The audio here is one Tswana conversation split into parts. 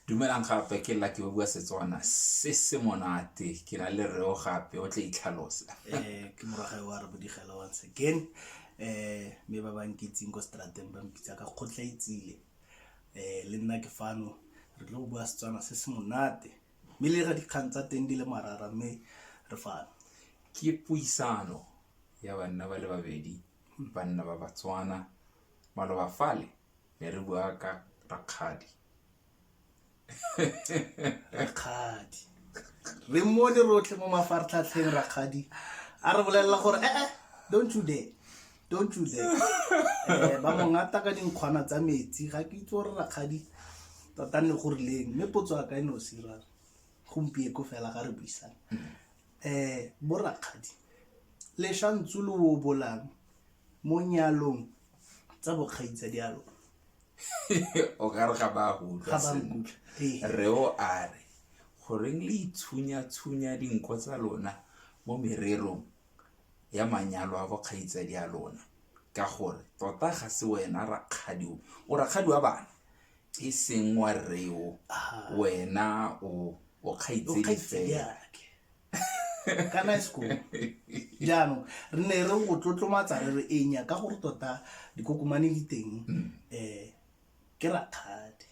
Dumelang gape ke Lucky ba bua Setswana se se monate ke na le reo gape o tle itlhalosa. eh ke moragae wa re bodigela once again eh me ba banketsing ko strateng ba mpitsa ka kgotla itsile eh le nna ke fano re tlo bua Setswana se se monate mme le ra dikgang tsa teng di le marara mme re fano. Ke puisano ya banna ba le babedi banna ba Batswana maloba fale be re bua ka rakgadi rakgadi re mmone rotlhe mo mafaratlhatlheng rakgadi a re bolelela gore ee eh, eh, don't you dare don't you dare eh, ba mongata ka dinkgwana tsa metsi ga ke itse gore rakgadi tota nne go rileng mme potso a ka e ne o sira gompieko fela ga re buisang um bo rakgadi leshantsu lo o bolang mo nyalong tsa bokgaitsadialo o ka re ga ba go utlwa sentle re o a re goreng le itshunya-tshunya dinko tsa lona mo mererong ya manyalo a bokgaitsadi a lona ka gore tota ga se wena rakgadi o o rakgadi wa bana e seng wa reo wena o o kgaitsedi fela kana school jaanong re ne re go tlotlomatsa re re enya ka gore tota dikokomane di teng um ke rakgadi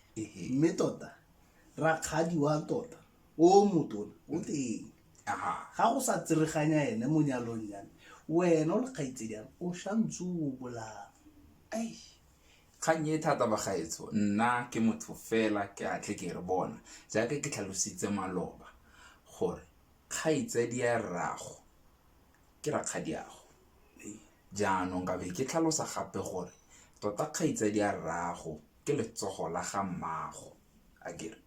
mme tota rakgadi wa tota o motona o mm. teng ga go sa tsereganya ene mo nyalong yame wena o lekgaitsediang o shantse o bolaa Kgang e thata bagaetsho, nna ke motho fela ke a tle ke re bona jaaka ke tlhalositse maloba gore kgaitsadi ya rrago ke rakgadiago jaanong ka be ke tlhalosa gape gore tota kgaitsadi ya rrago ke letsogo la ga mmaago a kere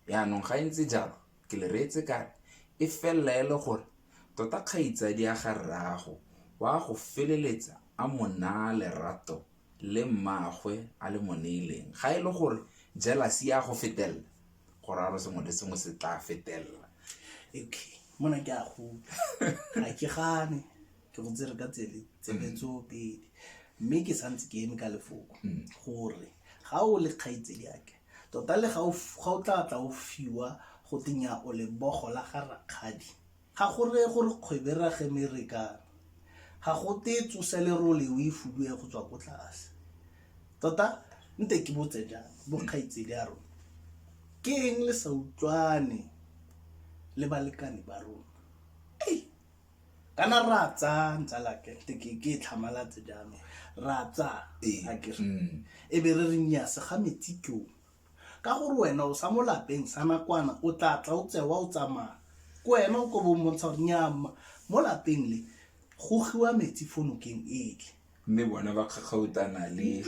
Jaanong ga e ntse jalo, ke le reetse ka re, e felela e le gore tota kgaitsadi ya ga rraago o a go feleletsa a mo naa lerato le mmaagwe a le mo neileng. Ga e le gore jelase e a go fetelela, go raya gore sengwe le sengwe se tla fetelela. Okay, mona ke a go utlwa. Ga ke gane, ke go tsere ka tsele, tsebe tsoopedi. Mme ke santse ke eme ka lefoko gore ga o le kgaitsadiake, Tota le ga o tla tla o fiwa go te nya o lebogo la ga rakgadi. Ga go reye gore kgwebo e rage me re ka ga go te tsose lerole o e fuduwe go tswa ko tlase. Tota nte ke botse jang bo kgaitsedi ya rona ke eng le sa utlwane le balekane ba rona? kana ra tsa ntsala ke ke ke e tlhamalatse jaanong ra tsa Ee. a ke re Mm. e be re re nya se ga metsi ke o ka gore wena o sa mo lapeng sa nakwana o tla tla o tsewa o tsamaya ke wena o ko bo mmontsha gore nyaa mma mo lapeng le go giwa metsi fo nokeng ele mme bona ba kgakgautana le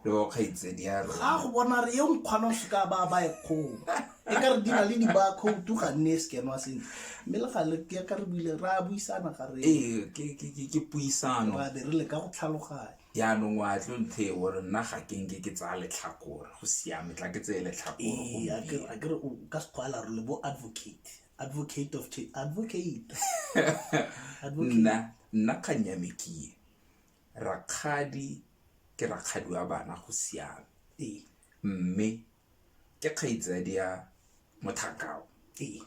le wa kgaitsedi ya rona ga go bona re yo nkgwana o seka ba ba e kgong e ka re dina le dibakhoutu ga nne e sekenwa sentle mme le gale ke ka re buile ra buisana ga re ee ke puisano ra be re le ka go tlhaloganya jaanong wa tlo nthe e gore nna ga ke nke ke tsaya letlhakore go siame tla ke tseye letlhakore ee a ke re o ka sekgwala re le bo advocate advocate of change advocate advocate nna nna kgang ya me ke ye rakgadi ke rakgadi wa bana go siame ee mme ke kgaitsadi ya mothakao ee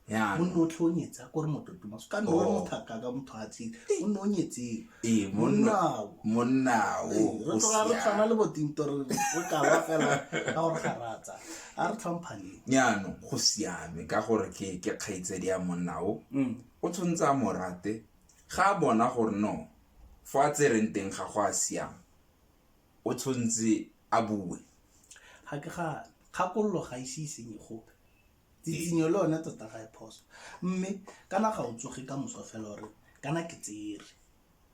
ya o nne o tlhe o nyetsa ko re mototomaso ka nne o re Oh. mothaka ka motho a tsene o nne o nyetseng ee monnao monnao ee, re tloga re tshwana le botinto re bokala fela ka gore ga ratsa a re tlhomphaneng jaano go siame ka gore ke ke kgaitsedi ya monnao mm. o tshwanetse a morate ga a bona gore no fo a tsereng teng ga go a siama o tshwanetse a bue ga ke ga kgakololo ga ise e senye gope tsikinyo le one tota ga e phoso mme kana ga o tsoge ka moso fela ore kana ke tsere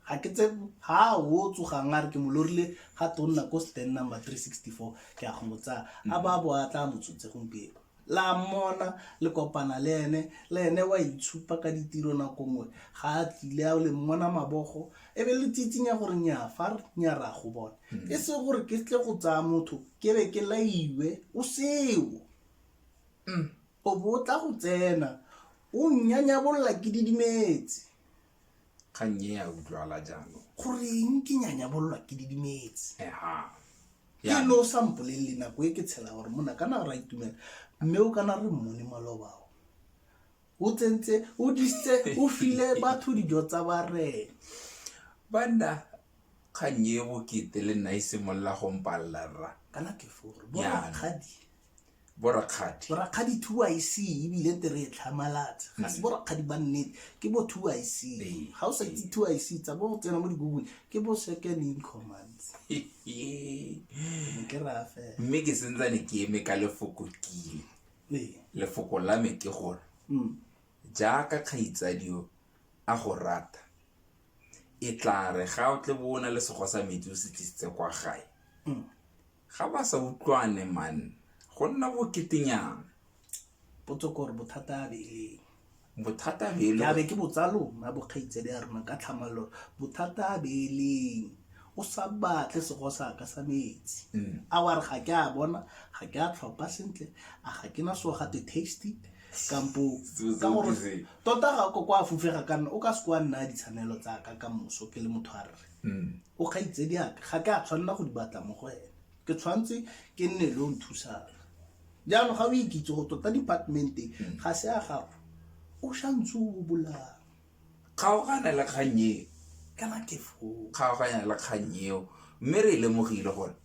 ga ke tse ga o tsogang a re ke mo lorile ga tonna ko stand number 364 ke a go mo tsaya a ba bo a tla motshotse gompieno la mmona le kopana le ene le ene wa itshupa ka ditiro nako nngwe ga a tlile a le mmona mabogo e be le tsitsinya gore nyaa fa nya ra go bona e se gore ke tle go tsaya motho ke be ke laiwe o seo O bo o tla go tsena, o nnyanyabolola ke didimetse. kgang e a utlwala jaanong Goreng ke nyanyabololwa ke didimetse? eha Ke lo o sa mpolelele nako e ke tshela gore mona kana ra itumela mme o kana re mmone malobao o tsentse o disitse o file batho dijo tsa barena banna kgang e bokete le nna e simolola go mpalela rra kana ke fore Yana. borakgadi borakgadi borakgadi two i c ebile te re e tlhamalatsa ga se borakgadi ba nnete ke bo two i c Ee. ga o sa itse two i c tsa bo go tsena mo digoogle ke bo second in command ke raya fela mme ke sentsane ke eme ka lefoko kile Ee. lefoko la me ke gore Mm. jaaka kgaitsadio a go rata. E tla re ga o tle bo o na le sego sa metsi o se tlisitse kwa gae mm. ga ba sa utlwane man go nna boketenyana potso kore bothata a beleng bothata beleabe ke botsalona bokgaitsedi ya rona ka tlhamalelo bothata a beleng o sa batle sego sa ka sa metsi mm. a wa re ga ke a bona ga ke a tlhopa sentle a ga ke na so gate tasty kampo ka gore tota ga ko kwa fufega ka nna o ka se kwa nna ditshwanelo tsa ka ka moso ke le motho a rre mm. o kgaitse di aka ga ke a tshwanela go di batla mo go ene ke tshwanetse ke nne le o nthusang jaanong ga o ikitse go tota departmente mm. ga se a gago o shantse o bolang kgaogane le kgang e kana ke kgaoganya le kgang eo mme re lemogile gore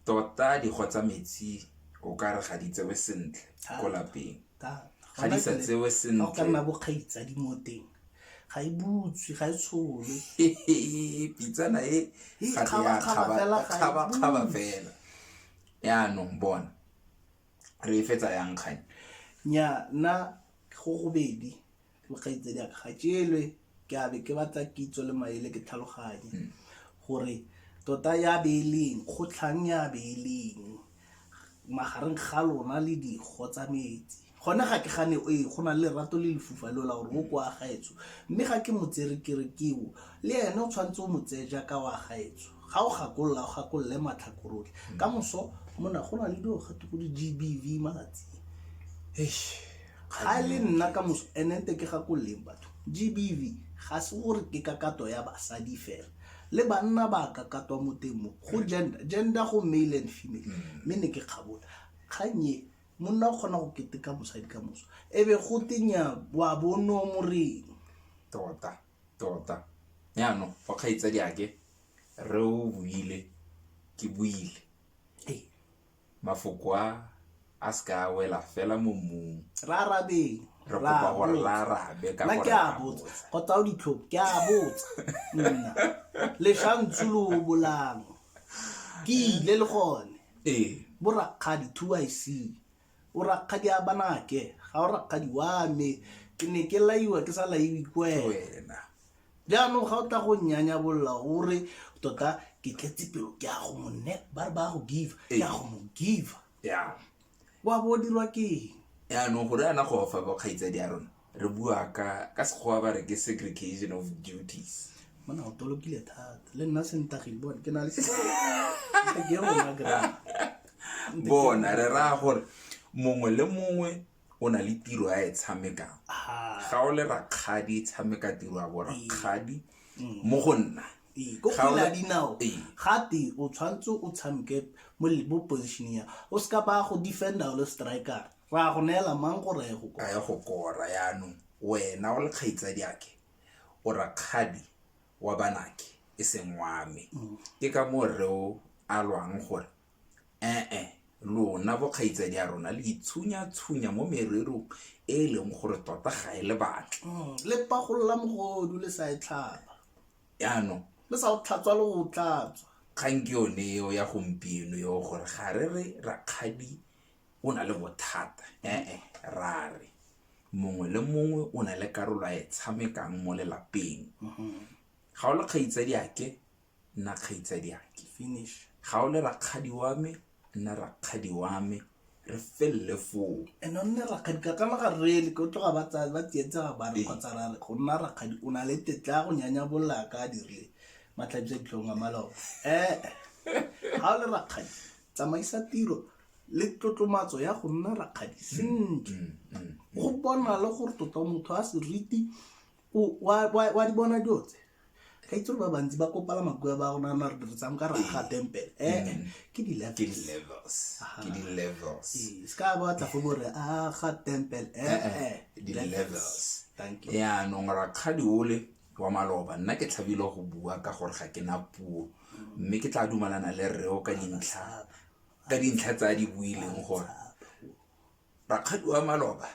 tota dikgo tsa metsi o ka re ga di tsewe sentle ko lapeng ga di sa tsewe sentle nna bokgaitsadi mo teng ga e butswe ga e tshole pitsana e ga te ya kgabakgaba fela yaanong bona re e fetsa yang kgang nya nna go gobedi Kgaitsadi a ga ke elwe ke a be ke batla kitso le maele ke tlhaloganye hmm. gore tota ya beeleng kgotlhang ya beeleng magareng ga lona le dikgo tsa metsi gone ga ke gane e go na le lerato le lefufa leo la gore o kwa gaetso mme ga ke motsere kerekeo le ene o tshwanetse o motseye jaaka wa gaetso ga o gakolola o gakolole matlhakorotlhe hmm. ka moso mona go na le dilo gate go di-gbv malatsi ga e le nna ka moso enente ke gakololeng batho gbv ga se gore ke kakato ya basadi fela le banna ba kakatwa mo teng mo go gender gender go male and female mm. mme ne ke kgabola kgannye monna o kgona go keteka mosadi ka moso e be go tenya wa bono moreng tota tota jaanong fa kgaitsa diake re o buile ke buile Mafoko a a se ka a wela fela mo mmung. Ra arabeng. Re kopa gore ra arabe ka gore ra botsa. Kgotsa o ditlhopo, ke a botsa. Nna. Leshantsu lo bolang. Ke ile le gone. Ee. Bo rakgadi, two I see. O rakgadi a banake. Ga o rakgadi wa me. Ke ne ke laiwa ke sa laiwe ke wena. jaanong ga o tla go nnyanyabolola o re tota ke tletse pelo ke ya go mo ne ba re ba go give ke ya go mo give ya wa bo o dirwa ke eng yaanong gore ana go fa ba kgaitsadi ya rona re bua ka ka sekgowa ba re ke segregation of duties mona o tolokile thata le nna sentagile bone ke na le se- ke rona grammar. bona re raya gore mongwe le mongwe o na le tiro a e tshamekang Ah, ga o le rakgadi e tshameka tiro ya borakgadi mo go nna ee, ko Ga o kgwele ya le- dinao Ee. gate o tshwanetse o tshameke mo le- mo position ya o seka ba go defender o le striker ra go neela mang gore a ye go a kwa ya go kora yaanong wena o le kgaitsadi ake o rakgadi wa banake e seng wa me ke ka moo reo a lwang gore Ee, lona bokgaitsadi a rona le itshunya-tshunya mo mererong e e leng gore tota ga e le batle Mm, le pagolola mogodu le sa e tlhaba yaanong le sa o tlhatswa le o tlatswa kgang ke yone eo ya gompieno eo gore ga re re rakgadi o na le bothata ee ra re mongwe le mongwe o na le karolo a e tshamekang mo lelapeng ga o le kgaitsadiyake nna kgaitsadiake finish ga o le rakgadi wa me nna rakgadi wa me re felele foo and o nne rakgadi ka kana ga rele ke o tloga ba tsa- ba tsietsa ga bare Ee. kgotsa ra re go nna rakgadi o na le tetla ya go nyanya bolla ka a dirile matlhabisa ditlhong a malao ee ga o le rakgadi tsamaisa tiro le tlotlomatso ya go nna rakgadi sentle go bona le gore tota motho a seriti O- wa- wa wa di bona dilo tse ka itse gore ba bantsi ba kopala makoa ba rona na re diretsang ka raga tempele ee ke di ke levels di-levels ke di-levels Ee, se ka batla go bore a ga tempele Eh, ee di-levels thank you yaanong rakgadi ole wa maloba nna ke tlhabile go bua ka gore ga ke na puo mme ke tla dumalana le reo ka dintlha ka dintlha tse a di buileng gore rakgadi wa maloba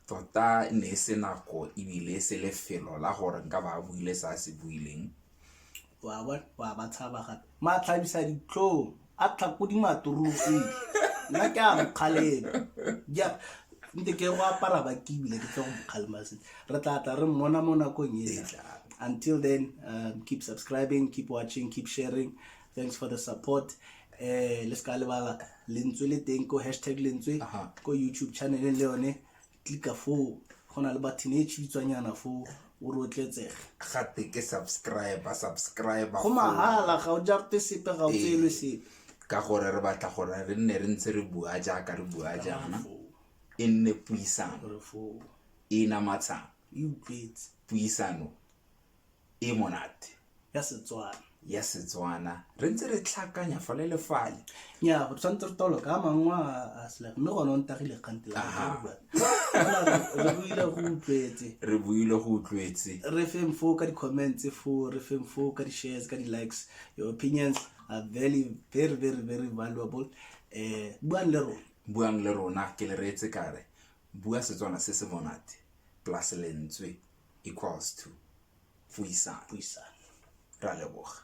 tota ne e se nako ebile e se lefelo la gore nka ba buile sa se buileng wa ba wa ba tshaba gape matlhabisa ditlhong a tlhakodi maturusi nna ke a mokgalema ja nte ke go apara ba ke ebile ke tle go mokgalema se re tla tla re mmona mo nakong e tla until then um, keep subscribing keep watching keep sharing thanks for the support eh le ska lebala lentswe le teng ko hashtag lentswe Aha. ko youtube channel le yone tlika foo go na le button e tšhitswanyana foo o rotletsege gate ke subscriber subscriber go mahala ga o jarte sepe ga o Ee. tseelwe sepe ka gore re batla gore re nne re ntse re bua jaaka re bua jaana Foo, e nne puisano gore foo e namatshang e utlwetse puisano e monate ya setswana ya setswana re ntse re tlhakanya fa le le fale ya go tshwanetse re tolo ka mangwe a sela mme gone o ntagile kgante la re buile go utlwetse re buile go utlwetse re feng foo ka di-comments foo re feng foo ka di-shares ka di-likes your opinions are very very very very valuable um buang le rona buang le rona ke le reetse kare bua setswana se se monate plus lentswe equals to puisano ra leboga